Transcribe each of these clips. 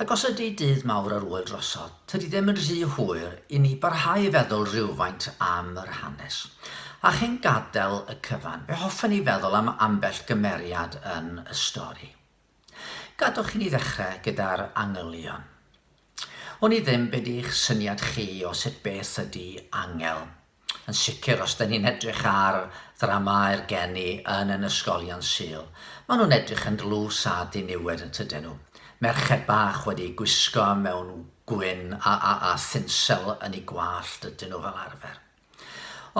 Ac os ydy dydd mawr ar ŵyl drosodd, tydi ddim yn rhy hwyr i ni barhau i feddwl rywfaint am yr hanes. A chyn gadael y cyfan, fe hoffen ni feddwl am ambell gymeriad yn y stori. Gadwch i ni ddechrau gyda'r angylion. Wn i ddim be di'ch syniad chi o sut beth ydy angel. Yn sicr, os dyn ni'n edrych ar ddramâu'r geni yn yn ysgolion Sul, maen nhw'n edrych yn dlws a diniwed yn tydyn nhw? Merched bach wedi gwisgo mewn gwyn a, a, a thinsel yn eu gwallt ydyn nhw fel arfer.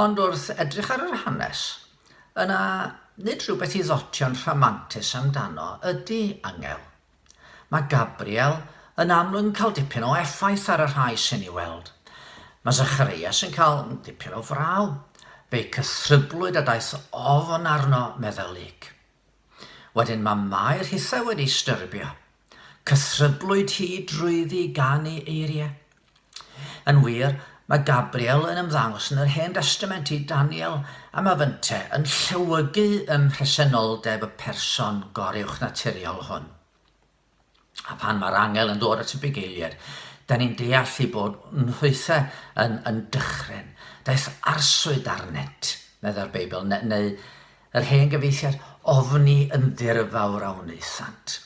Ond wrth edrych ar yr hanes, yna nid rhywbeth i ddotio'n rhamantus amdano ydy angel. Mae Gabriel yn amlwg yn cael dipyn o effaith ar y rhai sy'n ei weld. Mae Zacharias yn cael dipyn o fraw. Fe'i cythryblwyd a daeth ofn arno, meddai Luke. Wedyn mae Mair hithau wedi ei styrbio. Cythryblwyd hi drwyddi gan ei eiriau. Yn wir, mae Gabriel yn ymddangos yn yr Hen Destament i Daniel a mae fynte yn llewygu ym mhresenoldeb y person goruwchnaturiol hwn. A phan mae'r angel yn dod at y bugeiliaid, da ni'n deall ei bod nhwythe yn, yn dychryn. Daeth arswyd arnynt, meddai'r Beibl, neu, neu Yr hen gyfeithiad ofni yn ddirfawr a wnaethant.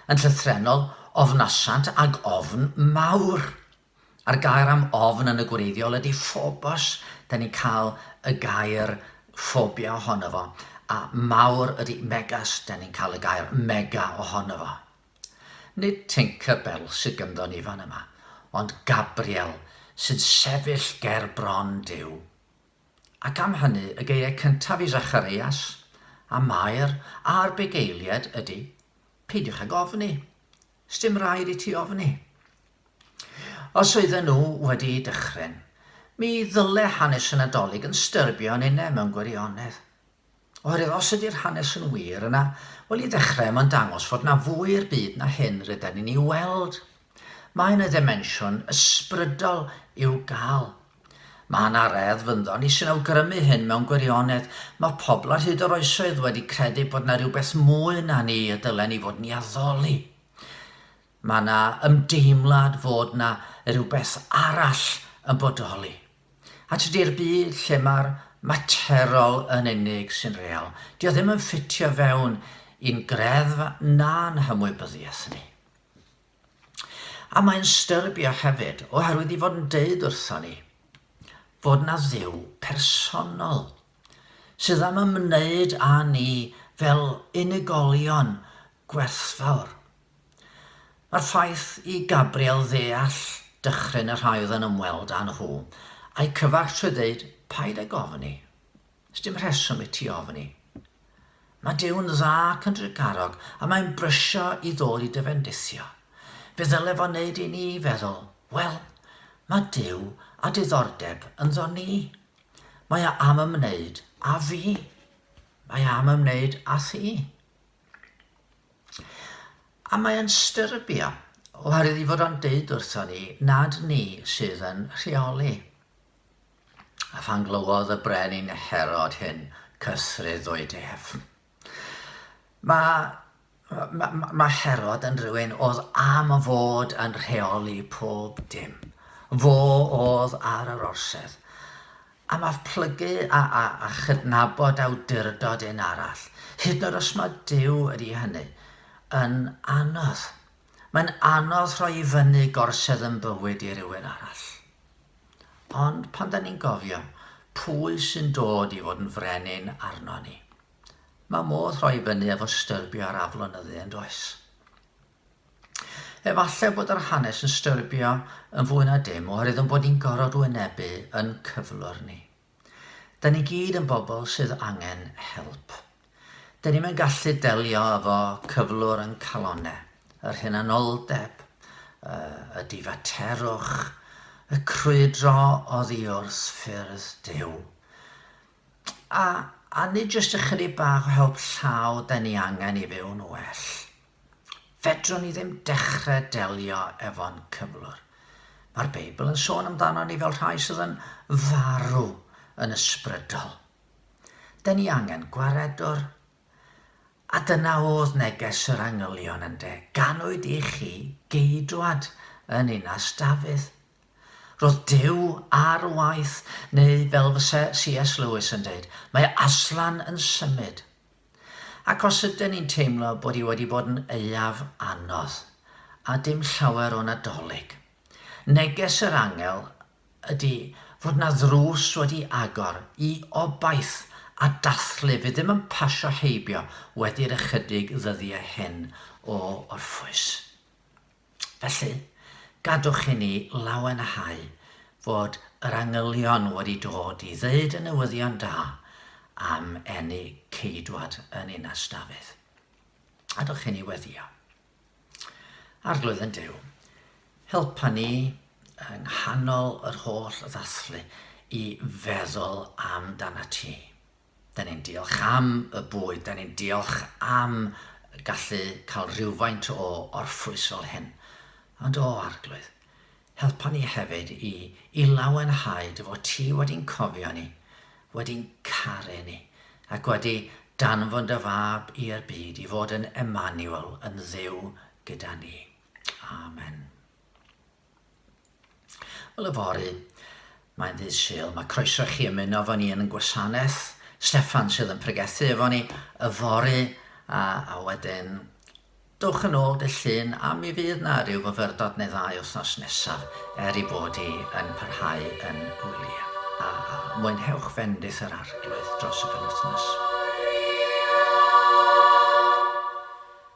Yn llythrennol, ofnasant ag ofn mawr. A'r gair am ofn yn y gwreiddiol ydy phobos, da ni'n cael y gair phobia ohono fo, a mawr ydy megas, da ni'n cael y gair mega ohono fo. Nid Tinker Bell sydd gynddo ni fan yma, ond Gabriel sy'n sefyll ger bron Duw. Ac am hynny y geiriau cyntaf i Zacharias, a Mair, a'r bugeiliaid ydy, Peidiwch ag ofni. Sdim raid i ti ofni. Os oedden nhw wedi dychryn, mi ddyle hanes y Nadolig yn styrbio yn une mewn gwirionedd. Oherwydd os ydy'r hanes yn wir, yna, wel, i ddechrau, mae'n dangos fod 'na fwy i'r byd na hyn rydan ni'n ei weld. Mae 'na ddimensiwn ysbrydol i'w gael. Mae 'na radd fynddo ni sy'n awgrymu hyn mewn gwirionedd. Mae pobl ar hyd yr oesoedd wedi credu bod 'na rhywbeth mwy na ni y dylen ni fod yn ei addoli. Mae 'na ymdeimlad fod 'na rhywbeth arall yn bodoli. A tydi'r byd lle mae'r materol yn unig sy'n real, dio ddim yn ffitio fewn i'n greddf na'n hymwybyddiaeth ni. A mae'n styrbio hefyd, oherwydd i fod yn deud wrthon ni fod na dduw personol sydd am ymwneud â ni fel unigolion gwerthfawr. Mae'r ffaith i Gabriel ddeall dychryn y rhai oedd yn ymweld â nhw, a'u cyfarch trwy ddeud, Paid ag ofni. Sdim rheswm i ti ofni. Mae Duw'n dda ac yn drugarog, a mae'n brysio i ddod i dy fendithio. Fe ddyle fo wneud i ni feddwl, Wel, mae Duw â diddordeb ynddo ni. Mae o am ymwneud â fi. Mae o am ymwneud â thi. A mae yn styrbio, oherwydd ei fod o'n deud wrthon ni nad ni sydd yn rheoli. A phan glywodd y brenin Herod hyn, cythreddwyd ef. Mae mae, mae Herod yn rhywun oedd am fod yn rheoli pob dim. Fo oedd ar yr orsedd. Am af plygu a a a chydnabod awdurdod un arall, hyd yn oed os mae Duw ydy hynny, yn anodd. Mae'n anodd rhoi i fyny gorsedd yn bywyd i rywun arall. Ond pan da ni'n gofio pwy sy'n dod i fod yn frenin arno ni, mae modd rhoi i fyny efo styrbio ar aflonyddu yn does? Efallai bod yr hanes yn styrbio yn fwy na dim oherwydd yn bod ni'n gorfod wynebu yn cyflwr ni. Da ni gyd yn bobl sydd angen help. Da ni'm yn gallu delio efo cyflwr yn calonne, yr hunanoldeb, y difaterwch, y crwydro oddi wrth ffyrdd Duw. A, a nid jyst ychydig bach o help llaw da ni angen i fyw'n well. Fedrwn ni ddim dechrau delio efo'n cyflwr. Mae'r Beibl yn sôn amdanon ni fel rhai sydd yn farw yn ysbrydol. Da ni angen gwaredwr. A dyna oedd neges yr angylion ynde, ganwyd i chi geidwad yn ninas Dafydd. Roedd Duw ar waith, neu fel fyse C.S. Lewis yn deud, mae Aslan yn symud. Ac os ydyn ni'n teimlo bod hi wedi bod yn aeaf anodd, a dim llawer o Nadolig, neges yr angel ydy fod 'na ddrws wedi agor i obaith a dathlu fydd ddim yn pasio heibio wedi'r ychydig ddyddiau hyn o orffwys. Felly, gadwch i ni lawenhau fod yr angylion wedi dod i ddweud y newyddion da am eni Ceidwad yn Ninas Dafydd. Gadwch i ni weddio. Arglwydd yn Duw, helpa ni yng nghanol yr holl ddathlu i feddwl amdanat ti. Dan ni'n diolch am y bwyd, dan ni'n diolch am gallu cael rhywfaint o orffwys fel hyn. Ond o, Arglwydd, helpa ni hefyd i, i lawenhau dy fod ti wedi'n cofio ni, wedi'n caru ni, ac wedi danfon dy fab i'r byd i fod yn Emmanuel, yn dduw gyda ni. Amen. Wel yfory, mae'n ddydd Sul, mae croeso chi ymuno efo ni yn yn gwasanaeth. Steffan sydd yn pregethu efo ni yfory a, a wedyn dwch yn ôl dy llun a mi fydd na rhyw fyfyrdod neu ddau wythnos nesaf er i bod hi yn parhau yn wyliau. A, a mwynhewch fendith yr arglwydd dros y penwythnos.